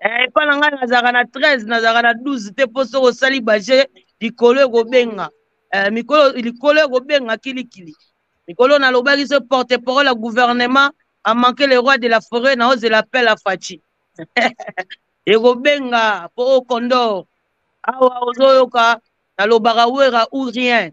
Eh, epa na ngai nazalaka na 13 nazalaka na 12 te mpo soki osali baje likolo ekobenga eh, mikolo likolo ekobenga kilikili mikolo nalobaki so porte parole ya gouvernement amanke le roi de la forêt na ozela appel ya faci ekobenga mpo o condor awa ozoyoka nalobaka wera ou rien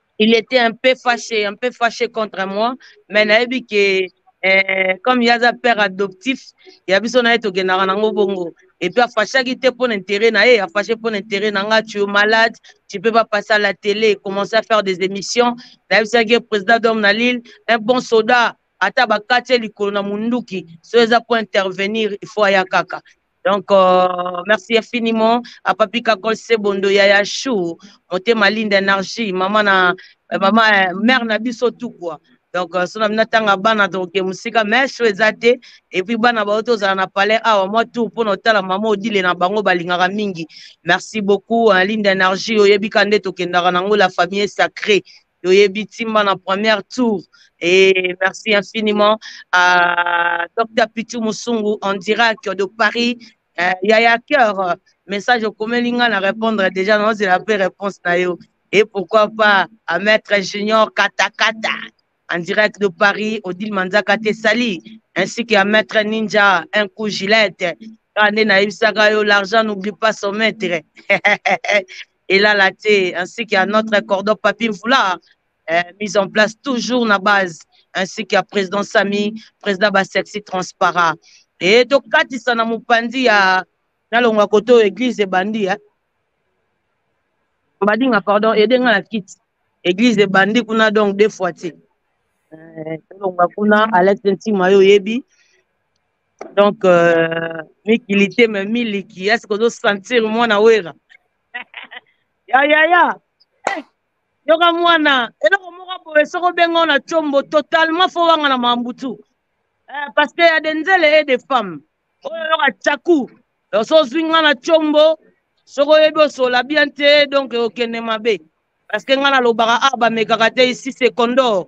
il était un peu fâché, un peu fâché contre moi, mais nayebi que eh, comme yaza père adoptif, ya biso na ye tokendaka nango bongo. Et puis afashaki te pour l'intérêt na ye, afashi pour l'intérêt na nga, tu es malade, tu peux pas passer à la télé, commencer à faire des émissions. Nayebisaki président d'homme na Lille, un bon soldat, ata bakati ye likolo na munduki, so eza pour intervenir, il faut aya kaka. Donc, euh, merci infiniment à Papi Kakol Sebondo, Yaya Chou, Motema Linde Energie, maman, na, euh, maman, euh, mère na biso tout quoi. donc euh, so na bino atanga bana tokoke mosika mais show eza te epuis bana baoyo tozala na palais awa mwa tour mpo na otala mama odile na bango balingaka mingi merci beaucoup hein, linde energie oyebika nde tokendaka nango la famille sacré toyebi timba na première tour et merci infiniment à Dr Pitu Musungu en direct de Paris euh, Yaya Cœur message okomeli nga na répondre déjà nazela mpe réponse na yo et pourquoi pas à maître junior katakata en direct de paris odile manzaka te sali ainsi que à maître ninja un coup gilette kaka nde nayebisaka yo l'argent n'oublie pas son maître elala te ainsi que à notre cordon papi mvula euh, mise en place toujours na base ainsi que à président sami président basexi transparent e tokatisa na mopanzi ya nalongwa kote oyo église ebandi eh? badinga pardon ede nga na kiti église ebandi kuna donc deux fois te euh, tolongwa kuna alex ntima yo oyebi donc euh, mikili te me miliki ya sikoyo ozosentir mwana wera ya ya ya eh, yoka mwana eloko moko boye soki obenga na combo totalement fo wanga na mambutu eh, parce que ya de nzele e de femme oyo yoka caku so ozwi nga na combo soki oyebi osola bien te donc okende mabe parce que nga nalobaka a ah, bamekaka te isi secondor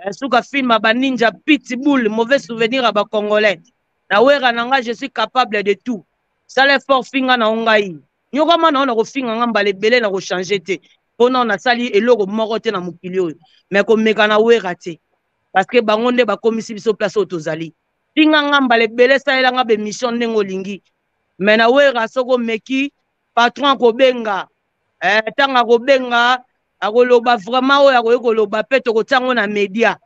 eh, suka film ya ba ninja pitbull mauvais souvenir ya ba congolais na wera na ngai je suis capable de tout sala effort finga na yo ngai nyokama na yo na kofinga ngai mbala ebele na kochange te mpo nao nasali eloko moko te na mokili oyo me komeka na wera te parce que bango nde bakomisi biso place oyo tozali finga ngai mbala ebele salela ngai bemission ndenge olingi me na wera soki omeki patron akobenga eh, ntango akobenga akoloba vraiment oyo akoki koloba mpe tokotia yango na media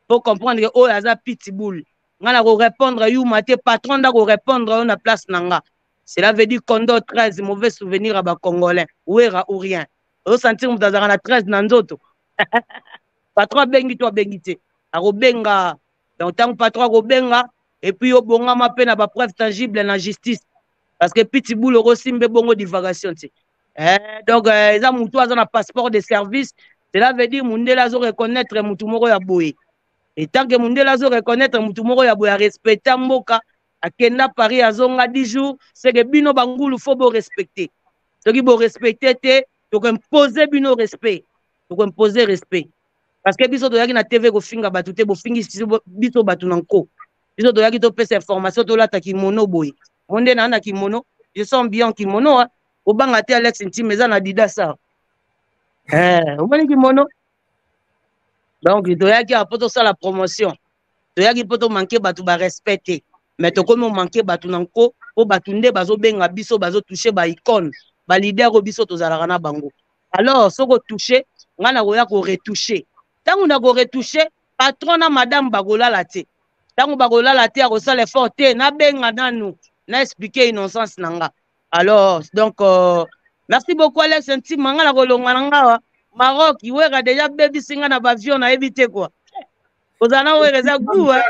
po comprendre ke oyo aza pitbull nga na korépondre yuma te patron nda korépondre yo na place na nga cela veut dire condo 13 mauvais souvenir ya bacongolais wera ou rien osentir moto azalaka na 13 na nzoto patron abengi to abengi te akobenga donc ntango patron akobenga epuis obongama mpe na bapreuve tangible na justice parce que pitbull okosimbe bongo divagation te eh, donc eh, eza mutu aza na passeport de service cela veut dire mundele azo reconnaître mutu moko ya boye etant que mundele azo reconnaître mutu moko ya boye arespecta mboka akenda paris azonga 10 jours seke bino bangulu fo borespecte soki borespecte te tokoimpose bino respect tokoimpose respect parce que biso toyaki na tv kofinga bato te bofingi biso bato na nko biso toyaki topesa information tolata kimono boye mo nde naa na kimono je sens bien kimono wa obanga te alex ntime eza na adidas awa eh, omoni kimono donc toyaki awa mpo tosala promotion toyaki mpo tomanke bato barespect te mais tokomi omanke bato na nko mpo bato nde bazobenga biso bazotouche baicone balider oyo biso tozalaka na bango alors soki otouche ngai nakoya koretouche ntango nakoretouche patron na madame bakolala te ntango bakolala te akosala effort te nabenga nanu na expliquer innocence na nga alors donc euh, merci beaucoup alex ntima nga nakolonga na ngawa maroc iweka deja bebisi nga na bavion nayebi te kua kozala na weka eza gua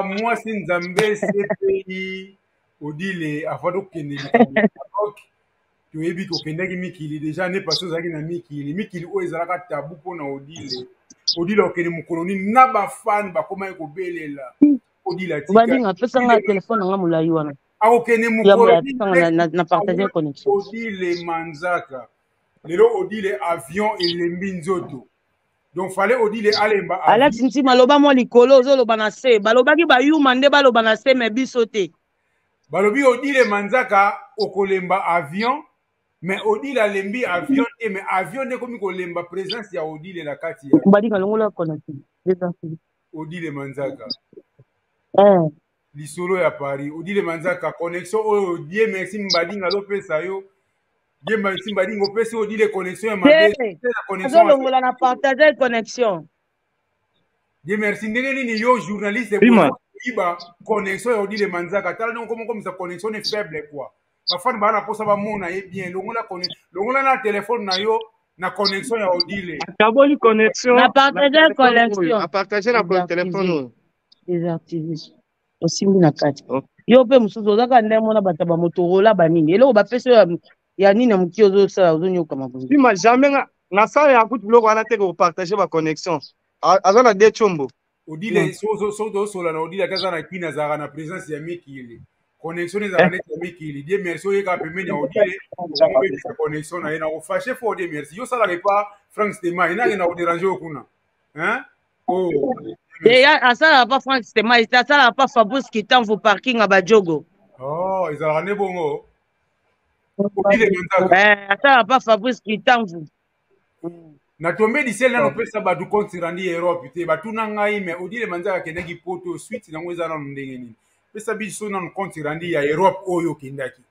mwasi nzambe cpi odile avant tokende likambo maroc toyebi ke okendaki mikili deja ane pasi ozalaki na mikili mikili oyo ezalaka tabu mpo na odile odile okende mokolo nini na bafani bakomaki kobelela odile atikabadinga apesa ngai telefone nanga molai wana akokende mokolona partage connexion odile manzaka lelo odile avion elembi nzoto donc fale odile alemba alati ntima loba mwa likolo ozoloba na se balobaki bayuma nde baloba na se me biso te balobi odile manzaka okolemba avion mais odile alembi avion te mais avion nde ekomi kolemba présence ya odile na kati ya badika longola kona te eza fili odile manzaka eh. lisolo ya paris odile manzaka connexion oyo die merci mbadinga azopesa yo die merci mbadinga opesi odile connexion ya mabe azolongola na partage connexion Dieu merci ndenge nini yo journaliste koyiba connexion ya odile manzaka tala ndenge okomokomisa connexion ne faible quoi bafani baa na mposa bamona ye bien longola longola na telefone na yo na connexion ya odile akaboli connexion na partage connexion a partage na telefone oyo desactive osimbi na kati yo mpe mosusu ozaka nde mona bato ya bamotorola banini eloko bapesi oyo ya nini ya mokie ozosala ozonyokama boye sima jamais nga nasala ya kutu biloko wana te kopartage baconnexion aza na de combo odile hmm. soki tozosola na odile ata aza na kini azalaka na présence ya mikili connexion ezalaka eh. neti ya mikili die merci oyeka pembeni ya odile obebisa connexion na ye nakofashe fo odie merci yo osalaka epa frank stema enake na koderange yo kuna oh. deya asalaka pa frank stema asalaka pa fabrice kitanvu parking ya bajogo oh, ezalaka nde bongo obile manzaka eh, ata pa fabrice kitamvu natombe lisele nano opesa bato compte rendu ya europe te batuna ngai me odile manzaka akendaki poto suite nango eza nano ndenge nini pesa biso nano compte rendu ya europe oyo okendaki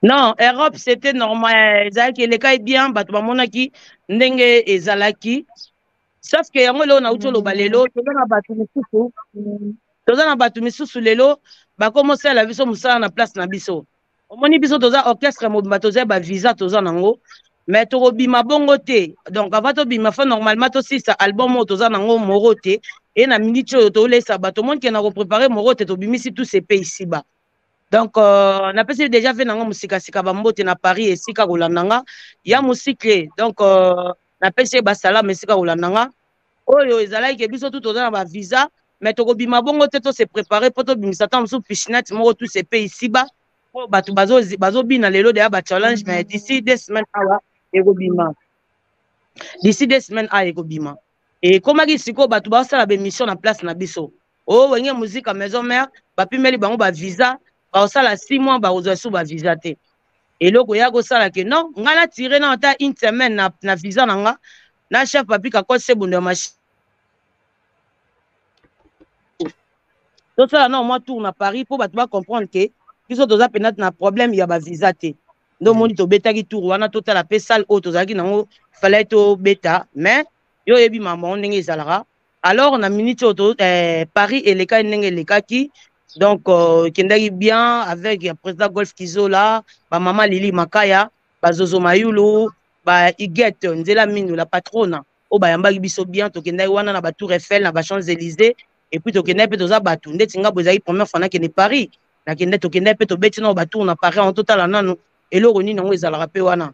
non europe c'était normal ezalaki elekaki bien bato bamonaki ndenge ezalaki sauf que yango eloko nauti oloba lelo toza na bato mosusu toza na bato misusu lelo bakoma osala biso mosala na place na biso omoni biso toza orchestre mobimba toza ba visa toza nango me tokobima bongo te donc avant tobima fa normalement tosisa album oyo toza nango moro te e na miniti oyo tolesa bato omoni ke na koprepare moro te tobimisi tous epe isiba donc euh, napesi deja ve nanga mosikasika bambote na paris esika kolanda nga ya mosikle donc euh, napesi ye basalama esika kolanda nga oyo ezalaki ke biso tu toza na bavisa mais tokobima bongo te tose prépare mpo tobimisa ntango mosusu piscinate moko tu se pe isiba mpo bato bazobina lelo deya bachallenge mais d'ici deux semaines awa ekobima d'ici deux semaines awa ekobima ekomaki sikoyo bato basala baémission na place na biso o oh, wenge muzika maison mère bapimeli bango ba visa bakosala 6 mois bakozwa su ba visa te eloko ya kosala ke non ngai natire na ata une semaine na, na visa na nga na chef papi kakol sebondo ya machine tosala na omwa tour na paris mpo bato bacomprendre ke biso toza mpenza na problème ya bavisa te nde omoni mm. tobetaki tour wana totala mpe salle oyo tozalaki nango falai tobeta mais yo oyebi mambo yango ndenge ezalaka alors na minute oyo to eh, paris elekaki ndenge elekaki donc euh, ekendaki euh, bien avec ya président golf kizola bamama lili makaya bazozo mayulu ba igete nzela mino la patrona oyo bayambaki biso bien tokendaki wana na batour eiffel na bachamps élysée epuis tokendaki mpe toza bato ndeti ngai bo ezalaki première fois nakende paris nakende tokendaki mpe tobeti nao batour na paris yango totala nanu eloko nini yango ezalaka mpe wana